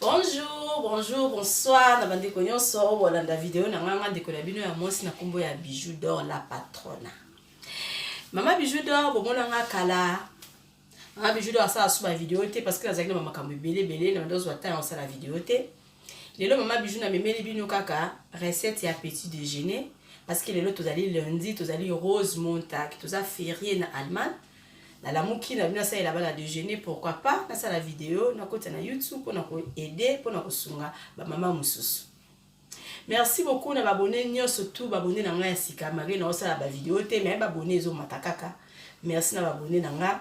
Bonjour, bonjour, bonsoir na bandeko nyonso oyo bolanda video na ngai, ngai ndeko na bino ya mwasi na nkombo ya Bijou d'Or la patrona. Mama Bijou d'Or bomona ngai kala nga Bijou d'Or asala suba video te parce que nazalaki na bamakambo ebele ebele na banda ozwa ntango osala video te lelo mama Bijou namemeli bino kaka recette ya petit déjeuner parce que lelo tozali lundi tozali rose montag toza ferie na allemagne nalamuki na bino asalela bana dejeuner pourquoi pas nasala video nakota na youtube mpona koaide mpona kosunga bamama mosusu merci beaucoup na babone nyonso tu babone na ngai ya sika malgre naosala bavideo te mai babone ezomata kaka merci na babone na ngai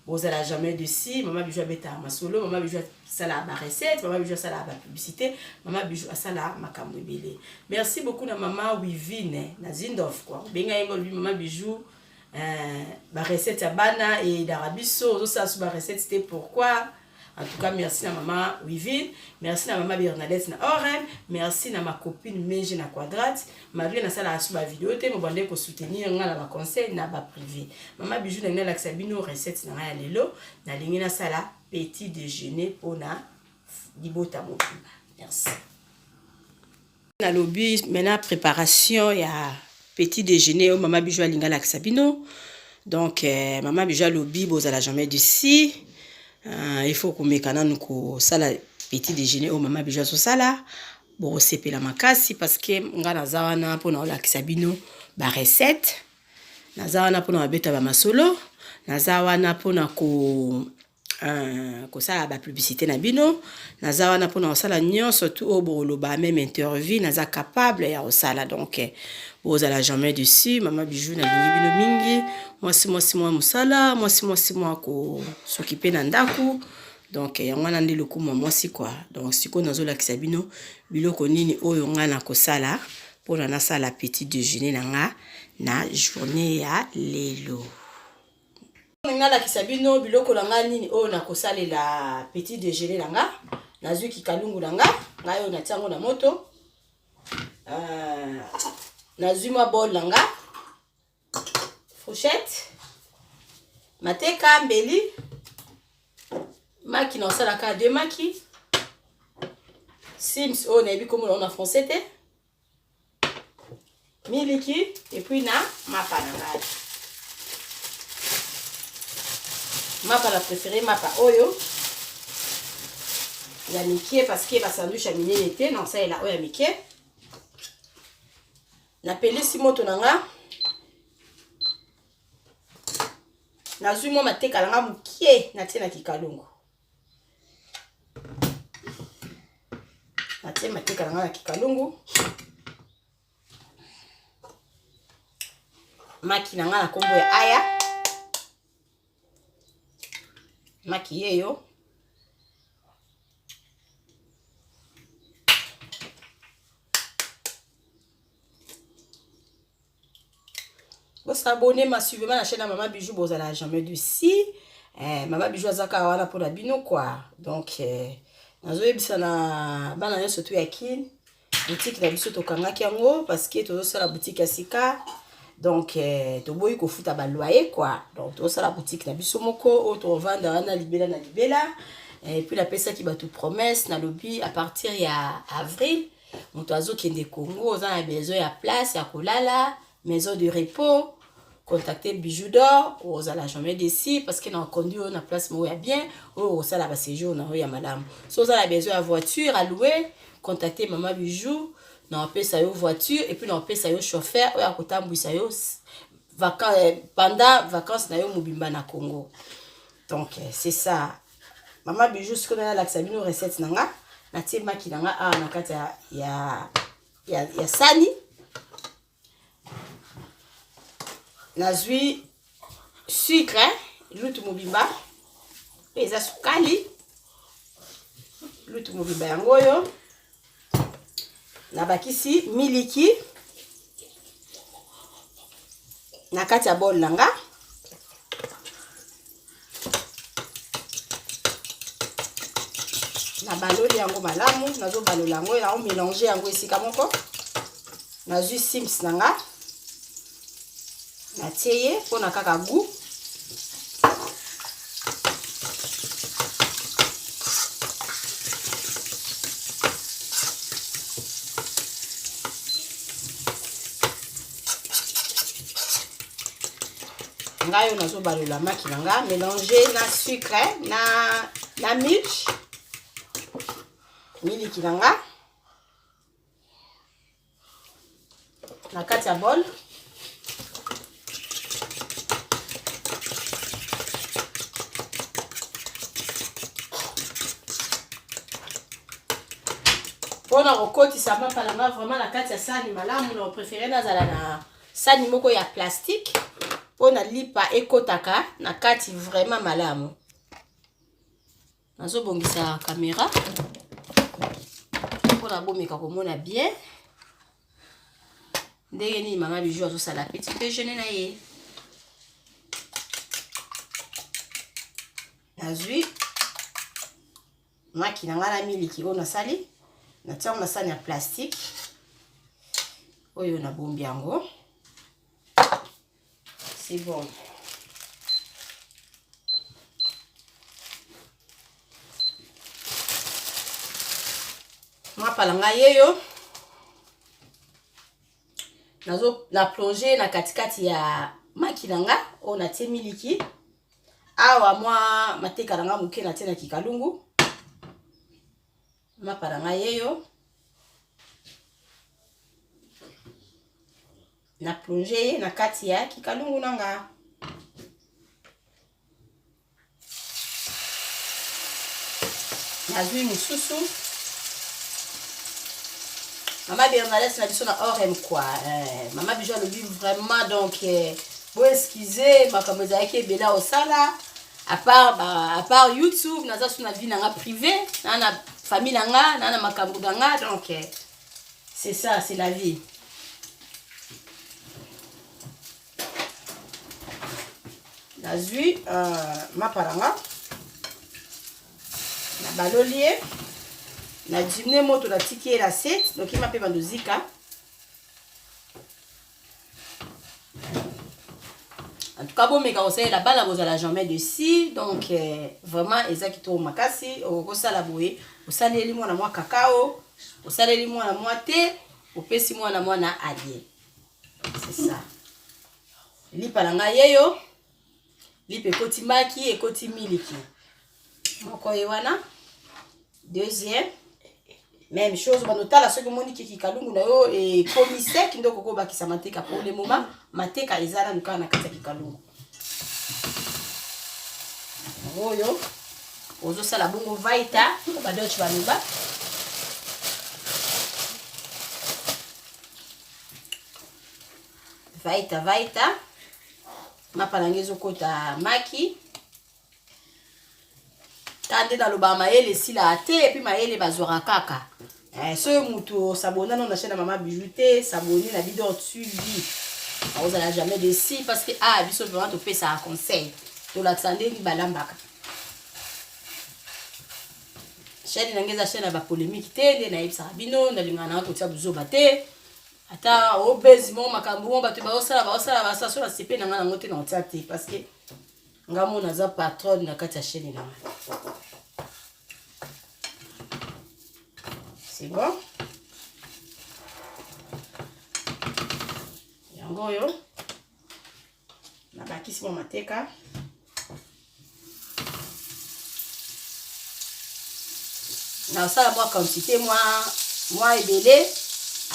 bozala jamais desi mama bijou abetaka masolo mama bijou asalaka barecette mama bijou asalaka bapublicité mama bijou asalaka makambo ebele merci beaucoup na mama wivine na zindof kua obenga ye ngo olobi mama bijou Euh, ba recette ya bana eyidaka biso ozosala so ba recette te pourquoi en tout cas merci na mama wivine merci na mama bernadette na orem merci na macopine menge na quadrate malgré nasalaka so bavideo te mobande kosoutenir ngai na baconseil na baprivé mama bijou na ngai nalakisa bino recette na ngai ya lelo nalingi nasala petit déjeuner mpona libota mobimba merci nalobi maintenant préparation ya petit déjeuner oyo mama bijo alinga alakisa bino donc eh, mama bijo alobi bozala jamais dusi uh, ah, il faut komeka nanu kosala petit déjeuner oyo mama bijo azosala bokosepela makasi parce que ngai naza wana mpona kolakisa bino barecette naza wana mpona babeta bamasolo naza wana mpona ko kosala ba publicité na bino naza wana mpona kosala nyonso tu oyo boloba meme interview naza capable ya kosala donc bozala jamais dessus mama bijou nalingi bino mingi mwasi mwasi mwa mosala mwasi mwasi mwa kosokipe na ndako donc yango wana nde lokumu ya mwasi kua donc sikoyo nazolakisa bino biloko nini oyo ngai nakosala mpona nasala petit déjeuner na ngai na journée ya lelo Olingi nalakisa bino biloko na ngai nini oyo nakosalela petit déjeuner na nga nazwi kikalungu na nga ngai oyo natia yango na moto euh, nazwi mwa bol na nga fourchette mateka mbeli maki na osalaka de maki sims oyo nayebi komona na français te miliki epuis na mapa na ngai mapa na prefere mapa oyo ya mike parceke basandwich ya minene te na kosalela oyo ya mike napelisi moto na nga nazwi mwa mateka na nga moke natie na kikalungu natie mateka na ngai na kikalungu maki na ngai na nkombo ya aya maki yeyo Bo s'abonner ma suivez ma chaîne maman bijou bozala jamais du si eh, maman bijou azaka wana pona bino quoi donc eh, nazoyebisa na bana nyonso tu ya kin boutique na biso tokangaki yango parce que tozosala boutique ya sika donc eh, toboyi kofuta baloye quoi donc tozosala boutique na biso moko oyo tovanda wana libela na libela eh, puis napesaki bato promesse nalobi à partir ya avril moto azokende congo oza na besoin ya place ya kolala maison de repos contacte bijou d'or ozala jamais desi parce que na okondi oyo na place moko ya bien oyo okosala baséjour na yo ya malamu so oza na besoin ya voiture aloue contacte mama bijou na opesa yo voiture epuis na opesa yo chauffeur oyo akotambwisa yo pendant vacances na yo mobimba na congo donc c'est ça mama bijou sikoyo ngai nalakisa bino recette na nga natie maki na nga awa na kati ya, ya, ya, ya sani nazwi sucre lutu mobimba mpe eza sukali lutu mobimba yango oyo nabakisi miliki na kati ya bol na nga nabaloli yango malamu nazobalola yango naomelange yango esika moko nazwi sims na nga natie ye mpo na kaka gout ngai oyo nazobalola maki na ngai mélange na sucre na, na milk miliki na ngai na kati ya bol mpona kokotisa mapa na nga vraiment na kati ya sani malamu na prefere nazala na sani moko ya plastike mpona lipa ekotaka na kati vraiment malamu nazobongisa kamera mpona bomeka komona bien ndenge nini mama biju azosala petit dejeuner na ye nazwi maki na ngai na miliki oyo nasali natiango na sani ya plastike oyo nabombi yango C'est bon. mapala ngai ye yo nazo na plonge na katikati ya maki na nga oyo natie miliki awa mwa mateka na nga moke natie na kikalungu mapa na ngai ye yo na plonge ye na kati ya kikalungu na nga nazwi mosusu mama bernadette na biso na orem kua eh, mama bijo alobi vraiment donc eh, bo excuse makambo ezalaki ebele osala apart ba, apart youtube naza so na vie na nga privé na na famille na nga na na makambo na nga donc eh, C'est ça, c'est la vie. nazwi euh, mapala nga nabaloli ye nadimne moto natiki ye na se nokima mpe bandozika en tout cas bomeka kosalela bana bozala jamais de si donc euh, vraiment eza kitoko makasi okosala boye osaleli mwana mwa kakao osaleli mwana mwa te opesi mwana mwana alie c'est ça lipa na ngai yeyo lipe ekoti maki ekoti miliki moko ye wana deuxième même chose bando tala soki omoni kiki kalungu na yo ekomi sec nde okoki obakisa mateka pour le moment mateka eza nanu kaka na kati ya kikalungu oyo ozosala bongo vaita badoche baloba vaita vaita mapa na ngai ezokota maki ta nde nalobaka mayele esilaka te epuis mayele bazwaka kaka eh, soki motu osabona no na chaine ya mama bijou te sabone na bidor tubi akozala jamais desi parce que a ah, biso vraiment topesaka conseil tolakisa ndenge balambaka chaine na ngai eza chaine ya bapolémike te nde nayebisaka bino nalingaka nanga kotia buzoba te ata obezi moko makambo moko bato baosala baosala basaso na sepe na ngai nango te na otya te parce que ngai mona aza patronne na kati ya chaîne na ngai c'est bon yango oyo Na bakisi mwa mateka. Na sala mwa quantité mwa mwa ebele.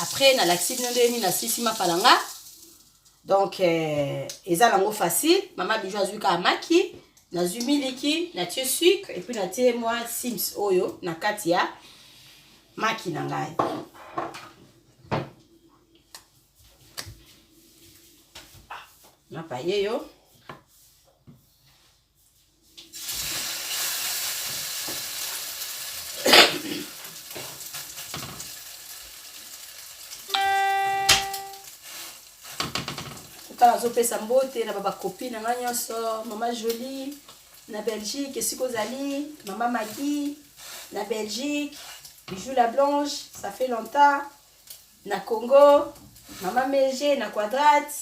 Après na lakisi bino ndenge nini na sisi mapalanga. Donc euh, eza nango facile. Mama Bijou azui ka maki. nazwi miliki natie sucre epuis natie mwa sims oyo na kati ya maki na ngai napaye yo kaka azopesa mbote na babakopi na ngai nyonso mama jolie na belgique esika ozali mama magi na belgique bijou la blanche ça fait longtemps na congo mama mege na quadrate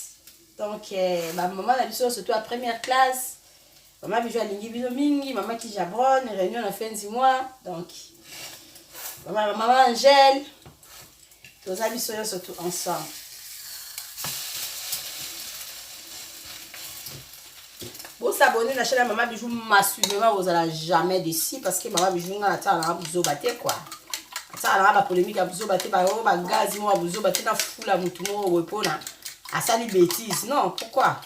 donc eh, bamama na biso surtout ya première classe mama bijo alingi bino mingi mama kijabron réunion na fin du mois donc mama, mama angèle toza biso nyonso tout ensemble Bo s'abonner na chaîne Maman Bijou Massu vraiment vous allez jamais déçu parce que Maman Bijou nga ata na buzo batte quoi. Ata na ba polémique ya buzo batte ba yo ba gaz mo buzo batte na fula mutu mo we pona asali bêtise non pourquoi?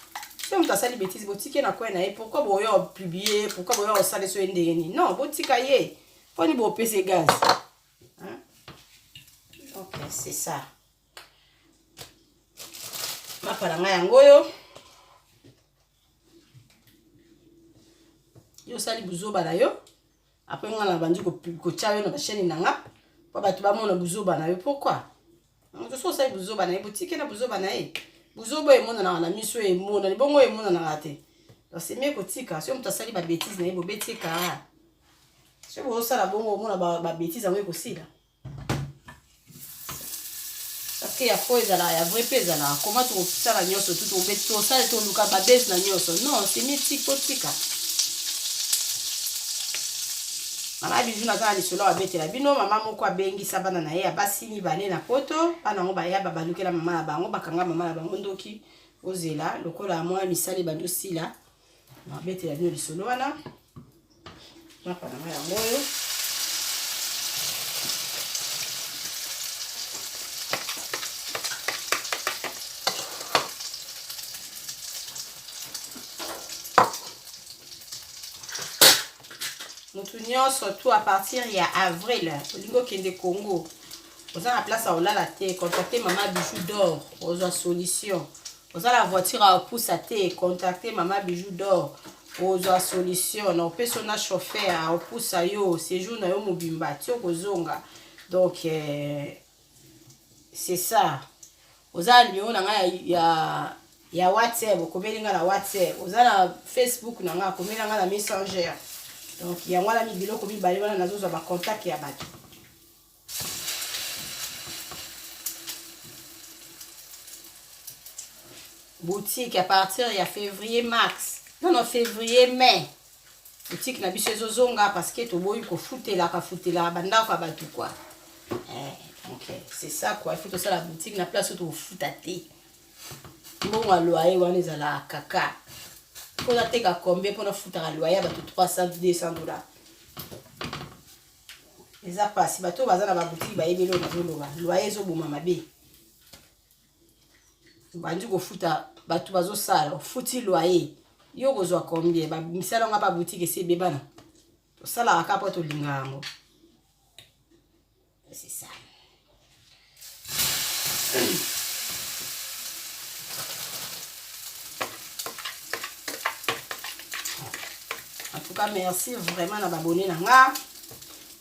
soki moto asali bétise botiki ye na koi na ye pourkui boya opublie pourkui boya osala so ye ndenge nini non botika ye mpo ni bopese gaz donc c'est ça mapa na ngai yango oyo yo osali buzoba na yo apres ngai nabandi kotya yo na basheni na nga mpo bato bamona buzoba na yo pourkui moto so osali buzoba na ye botike na buzoba na ye buzoba oyo emonanaka na miso oyo emonani bongo oyo emonanaka te osemie kotika soki moto asali babetise na ye bobeti kara soki bozosala bongo omona babetise yango ekosila parce que ya fo ezalaka ya vrai mpe ezalaka koma tokosala nyonso tu tosali toluka babese na nyonso non semiti totika mama bizu naza na lisolo oyo abetela bino mama moko abengisa bana na ye ya basi mibale na poto bana yango baya babalukela mama na bango bakanga mama na bango ndoki ozela lokola mwa misali bandosila nabetela bino lisolo wana mapa na ngai yango oyo motu nyonso tu a partir ya avril olingi okende congo oza na place ya kolala te contacte mama bijou dor ozwa solution oza na voiture ya opusa te contacte mama bijou dor ozwa solution na opesa na chauffeur aopusa yo séjour na yo mobimba ti okozonga donc euh, c'est ça oza na numero na ngai ya, ya, ya whatsapp okomeli ngai na whatsapp oza na facebook na ngai akomeli ngai na messenger donc yango wana biloko mibale wana nazozwa bacontacte ya bato boutique à partir ya février mars non non février mai boutique na biso ezozonga parce que toboyi kofutelaka futelaka bandako ya bato kua eh, donc eh, c'est ça quoi il faut tosala boutique na place oyo tokofuta te mbongo ya loyer wana ezalaka kaka mpo nateka combien mpo nafutaka loyer ya bato 300 200 dollars eza pasi bato baza na babutiki bayebi eloko nazoloba loye ezoboma mabe obandi kofuta bato bazosala ofuti loye yo okozwa combien misala nga babutiki esi ebebana tosalaka kaka mpo tolinga yango c'est ça en tout cas merci vraiment na babone na nga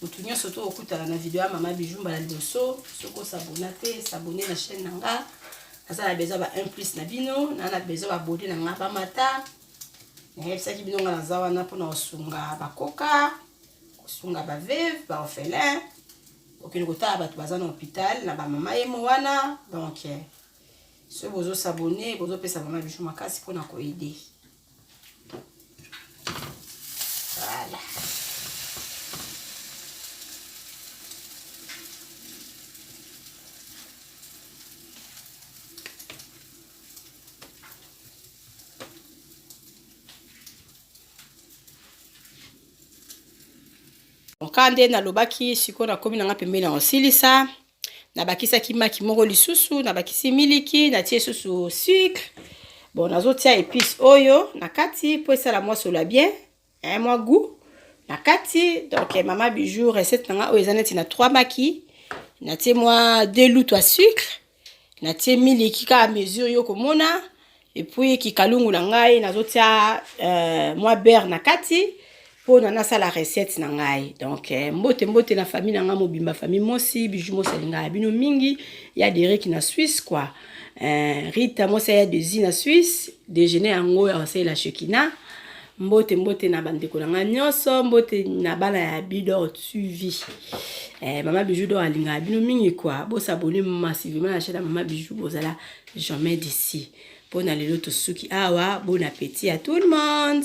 motu nyonso to okutana na video ya mama bijou mbala liboso soki osabona te sabone na chaîne na nga naza na besoin ba 1 plus na bino na na besoin babode na nga bamata nayebisaki bino nga naza wana mpona kosunga bakoka kosunga baveve baorphelin kokende kotala bato baza na hôpital na bamama ye mo wana donc eh, soki bozosabone bozopesa mama bijou makasi mpona koede voilà Oka nde nalobaki sikoyo nakomi na nga pembeni na osilisa nabakisaki maki moko lisusu nabakisi miliki natie susu sucre bon nazotia epice oyo na kati mpo esala mwa sola bien eh, mwa goût na kati donc eh, mama bijou recette na nga oyo eza neti na 3 maki natie mwa 2 lutu ya sucre natie miliki kaka mesure yo komona epuis kikalungu na ngai nazotia uh, mwa beurre na kati mpona nasala recette na ngai donc eh, mbote mbote na famille na ngai mobimba famille mosi biju mosi alinga ya bino mingi ya deriki na swisse kua eh, rita mosi ya desi na swisse dejeuner yango ya kosalela shekina Mbote mbote na bandeko na ngai nyonso, mbote na bana ya Bidor TV. Eh, mama Bijou Dor alingaka bino mingi kwa, bosabone massivement na chaîne ya mama Bijou, bozala jamais d'ici. Mpo na lelo tosuki awa, bon appétit à tout le monde.